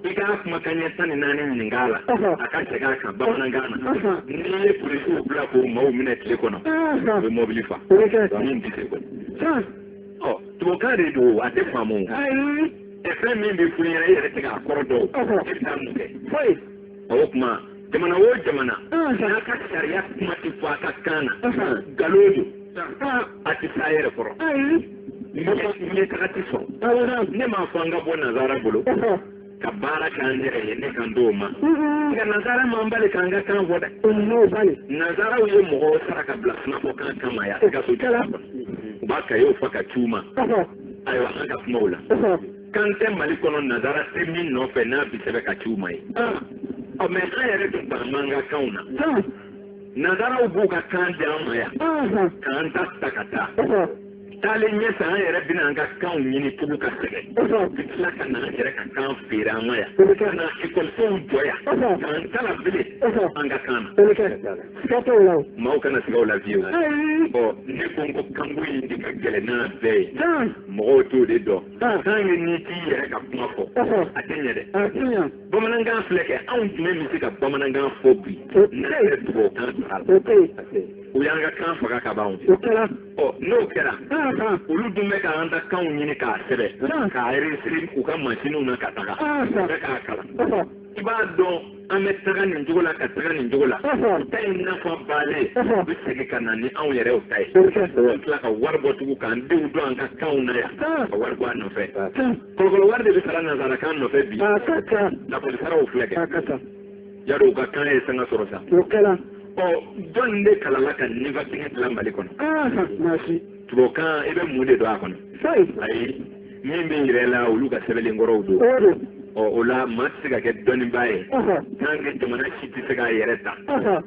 i k'a kumakan ɲɛ tan ni naani ɲininka a la a ka segin a kan bamanankan na n'i ye polisiw bila k'o maaw minɛ tile kɔnɔ u bɛ mɔbili fa min tɛ se kɔni tubabukan de don a tɛ faamu fɛn min bɛ furu ɲɛna e yɛrɛ tɛ k'a kɔrɔ dɔn e bɛ taa mun kɛ foyi o tuma jamana o jamana n'a ka sariya kuma tɛ fɔ a ka kan na nkalon don a tɛ s'a yɛrɛ kɔrɔ ɲɛtaga tɛ sɔrɔ ne m'a fɔ an ka bɔ nazara bolo ka baara k'an yɛrɛ ye ne kan t'o ma nka nazara m'an bali k'an ka kan fɔ dɛ n'o bali nazaraw ye mɔgɔw sara ka bila sunafɔkan kama yan gaso jala u b'a kayew fa ka ci u ma ayiwa an ka kumaw la kan tɛ mali kɔnɔ nazara tɛ min nɔfɛ n'a bi sɛbɛn ka ci u ma ye ɔ mɛ an yɛrɛ dun b'an ban an ka kanw na nazaraw b'u ka kan di an ma yan k'an ta ta ka taa taalen ɲɛfɛ an yɛrɛ bɛna an ka kanw ɲini tugu ka sɛgɛn ka tila ka na an yɛrɛ ka kan feere an ma yan ka na ekɔlisow jɔ yan k'an kalan bilen an ka kan na siga t'o la o. maaw kana siga o la fiyewu. ɔ ne ko n ko kanko in de ka gɛlɛn n'a bɛɛ ye. mɔgɔw t'o de dɔn. tant que n'i t'i yɛrɛ ka kuma fɔ. a tɛ ɲɛ dɛ. a tɛ ɲɛ. bamanankan filɛ kɛ anw jumɛn bɛ se ka bamanankan fɔ bi. n'a yɛrɛ tubabukan don a la. o tɛ yen. o y'an ka kan faga ka ban. o kɛra. ɔ n'o kɛra. olu dun bɛ k'an ta kanw ɲini k'a sɛbɛn. k'a enregistrer u ka mansinw na ka taga. u bɛ k'a kalan. i b'a dɔn an bɛ taga nin cogo la ka taga nin cogo la ta in nafa bannen u bɛ segin ka na ni anw yɛrɛw ta ye ka tila ka wari bɔ tugun k'an denw don an ka kanw na yan ka wari bɔ a nɔfɛ kɔlɔkɔlɔ wari de bɛ sara nanzarakan nɔfɛ bi lakɔlisaraw filɛ kɛ yadɔ u ka kan ye sanga sɔrɔ sa ɔ jɔn de kalala ka nivakini dilan mali kɔnɔ tubabukan i bɛ mun de dɔn a kɔnɔ ayi min bɛ yira e la olu ka sɛbɛnlenkɔrɔw don ɔ o la maa tɛ se ka kɛ dɔnnibaa ye tant que jamana si tɛ se k'a yɛrɛ ta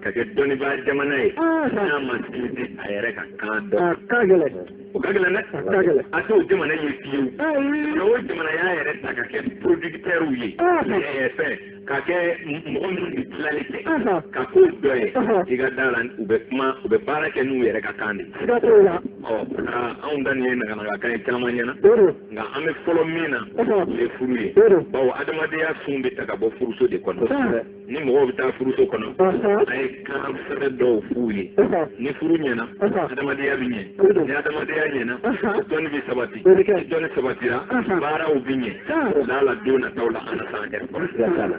ka kɛ dɔnnibaa jamana ye n'a ma sinsin a yɛrɛ ka kan dɔn o ka gɛlɛn dɛ a t'o jamana ye fiyewu o jamana y'a yɛrɛ ta ka kɛ producteurs ye fɛn ka kɛ mɔgɔ minnu bɛ tilali kɛ ka ko dɔ ye i ka da la u bɛ kuma u bɛ baara kɛ n'u yɛrɛ ka kan de ɔ anw ta nin ye naganaga kan ye caman ɲɛna nka an bɛ fɔlɔ min na o ye furu ye bawo adamadenya sun bɛ ta ka bɔ furuso de kɔnɔ ni mɔgɔw bɛ taa furuso kɔnɔ a ye kan sɛbɛ dɔw f'u ye ni furu ɲɛna adamadenya bɛ ɲɛ ni adamadenya ɲɛna dɔnni bɛ sabati ni dɔnni sabatira baaraw bɛ ɲɛ laala don nataw la an na s'an yɛrɛ kɔrɔ